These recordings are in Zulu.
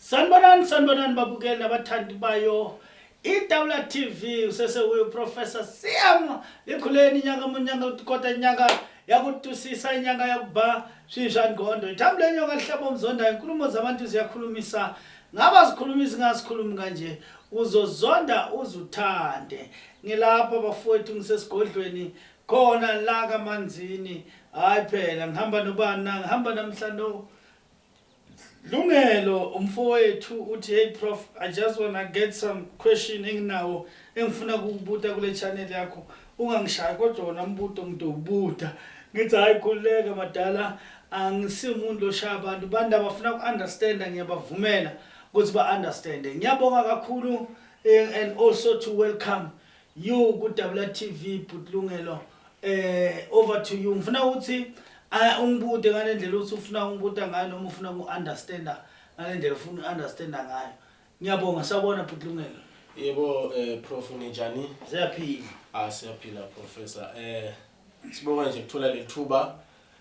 Sanibonani sanibonani babukeli nabathandi bayo iTawula TV usese uyo Professor Siam likhuleni inyanga munyanga utikota inyanga yakutusisa inyanga yakuba shisha ngqondo ithambo lenyoka lihlaba umzonda inkulumo zabantu ziyakhulumisa ngaba zikhuluma izingazikhulumi kanje uzozonda uzuthande ngilapha bafowethu ngisesigodlweni khona la kamanzini hayi phela ngihamba nobani na ngihamba namhlanje Lungelo umfowethu uthi hey prof I just wanna get some question enginawo engifuna ukukubuta kule channel yakho ungangishayi kodwa wona umbuto ngidowubuta ngithi hayi khululeka madala angisimuntu loshaya abantu bantu abafuna ku-understanda ngiyabavumela ukuthi ba-understande ngiyabonga kakhulu eh, and also to welcome You ku Dabula TV bhuti Lungelo eh over to you ngifuna ukuthi ah, ungibude ngale ndlela ukuthi ufuna ungibuda ngayo noma ufuna ku understander ngale ndlela ufuna understander ngayo ngiyabonga sawubona bhuti Lungelo yebo eh prof ninjani siyaphila ah siyaphila professor eh sibonga nje kuthola lethuba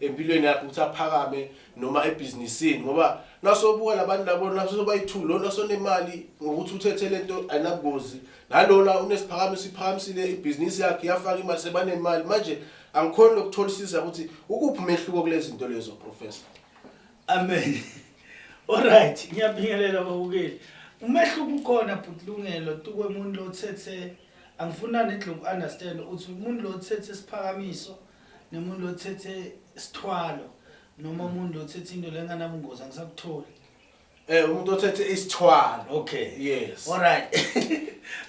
empilweni yakhe ukuthi aphakame noma ebhizinisini ngoba nasobuka labantu labo nasobayi-two lona sonemali ngokuthi uthethe le nto ayinabungozi nalona unesiphakame siphakamisile ibhizinisi yakhe yafaka imali sebanemali manje angikhoni lokutholisisa ukuthi ukuphi umehluko kule zinto lezo professor amen olright ngiyabingelela babukeli umehluko ukhona bhutilungelo tukwe muntu lothethe angifuna nidlo ku-understand ukuthi umuntu lothethe isiphakamiso nomuntu othethe isithwalo noma umuntu othethe into lenganabungozi angisakutholi Eh umuntu othethe isithwalo. Okay. Yes. All right.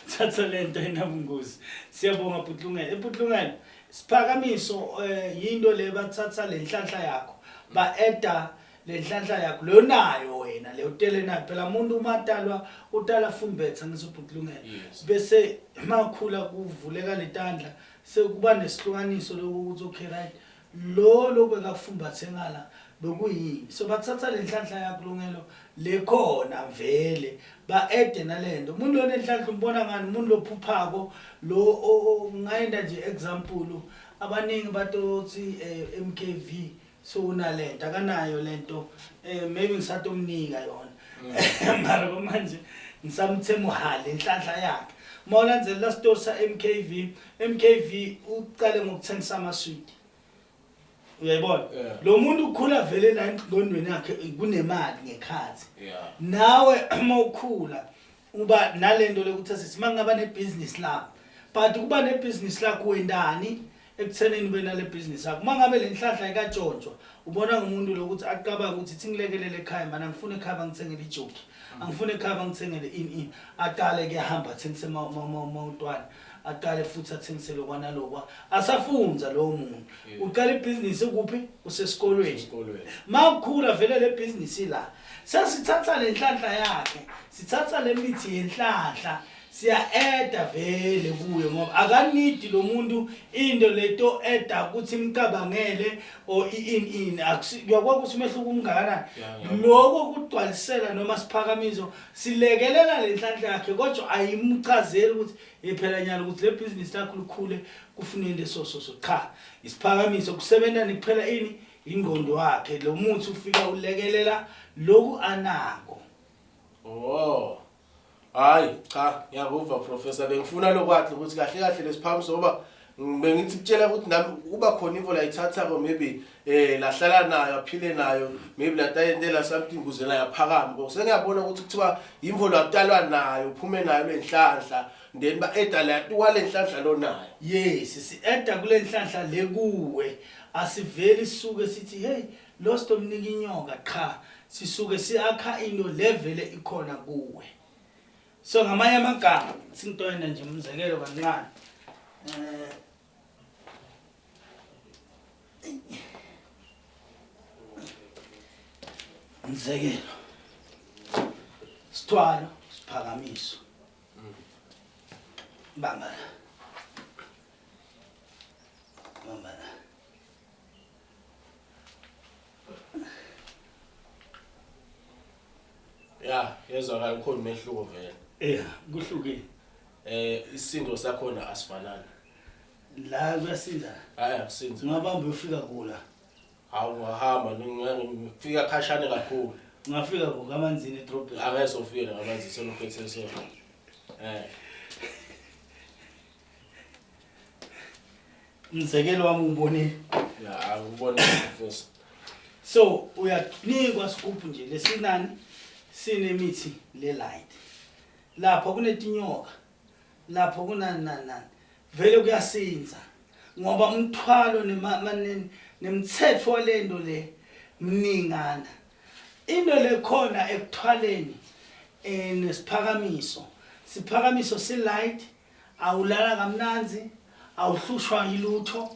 Thatha lento enabungozi. Siyabonga Putlungela. Eputlungela siphakamiso eh yinto le bathatha lenhlanhla yakho. Ba edda lenhlanhla yakho leyo nayo wena leyo tele nayo phela umuntu uma atalwa utala fumbetha ngizoputlungela. Bese makhula kuvuleka letandla Sekuba nesihlukaniso lokho ukuthi okay right lo lokhu bekakufumbathe ngala bekuyini so bathatha le nhlanhla yakulungelo le khona vele ba-ede nale nto umuntu lona enhlanhla umbona ngani umuntu lophuphako lo ngayenda nje example abaningi batothi um eh, m k v so unalento akanayo lento eh maybe ngisatomnika yona mm. mara manje ngisamthe muhale inhlanhla yakhe uma ulandzelela la store sa MKV MKV uqale ngokuthengisa ama sweet uyayibona lo muntu ukhula vele la engqondweni yakhe kunemali ngekhathi nawe uma ukhula uba nale nto lekuthiwa sisi uma ngingaba nebhizinisi lakho but kuba nebhizinisi lakho wendani ekuthenini ube nale bhizinisi yakho uma ngabe le nhlahla ikatshontshwa ubona ngumuntu lokuthi aqabanga ukuthi ithi ngilekelele ekhaya mani angifuni ekhaya bangithengele ijoki angifuni ekhaya bangithengele ini ini aqale kuyahamba athengisema utwana aqale futhi athengisele kwanalokwa asafunza lowo muntu Yeah. uqala ibhizinisi kuphi usesikolweni Esikolweni. makukhula vele le bhizinisi la sesithatha le nhlanhla yakhe sithatha le mithi yenhlanhla siya-eda vele kuyo ngoba akanidi lo muntu into leto eda ukuthi imcabangele or ini ini Akusi- uyakwazi ukuthi umehluko umngakanani Yeah, ngiyabona. loko kugcwalisela noma siphakamiso silekelela le nhlanhla yakhe kodwa ayimchazeli ukuthi yephela nyalo ukuthi le bhizinisi lakho lukhule kufuneni leso soso cha isiphakamiso kusebenza nikuphela ini ingqondo wakhe lo muthi ufika ulekelela loku anako oh hayi cha ngiyakuva professor bengifuna lokwathi ukuthi kahle kahle lesiphakamiso ngoba bengithi kutshela ukuthi nami kuba khona ivo layithatha-ko maybe um lahlala nayo aphile nayo maybe latayentela something kuze layaphakama ko sengiyabona ukuthi kuthiwa yimvo lakutalwa nayo uphume nayo le nhlanhla then ba-eda latiwa le nhlanhla lo nayo yes si-eda kule nhlanhla le kuwe asiveli sisuke sithi heyi lo sitomnika inyoka qha sisuke siyakha into le vele ikhona kuwe so ngamanye amagama sintoyena nje umzekelo kancane eh, umzekelo sithwalo siphakamiso bamba la bamba la ya yezwakala ukhona umehluko vele eya kuhlukile eh isindo sakhona asifanani la kuyasinda hayi akusinzi ungabamba uyofika kula hawu ngahamba ngifika khashane kakhulu ngafika ngokamanzini edrobheni angezofika ngamanzini selophethe so eh Mzekelo wami ubonile. Ya, angibona mfethu. So uyanikwa scoop nje lesinani sinemithi le light. Lapho kunetinyoka. Lapho kunani nani nani. Vele kuyasinza ngoba umthwalo nemaneni nemthetho walento le mningana. Into le khona ekuthwaleni eh nesiphakamiso. Siphakamiso si light, awulala kamnanzi, awuhlushwa yilutho,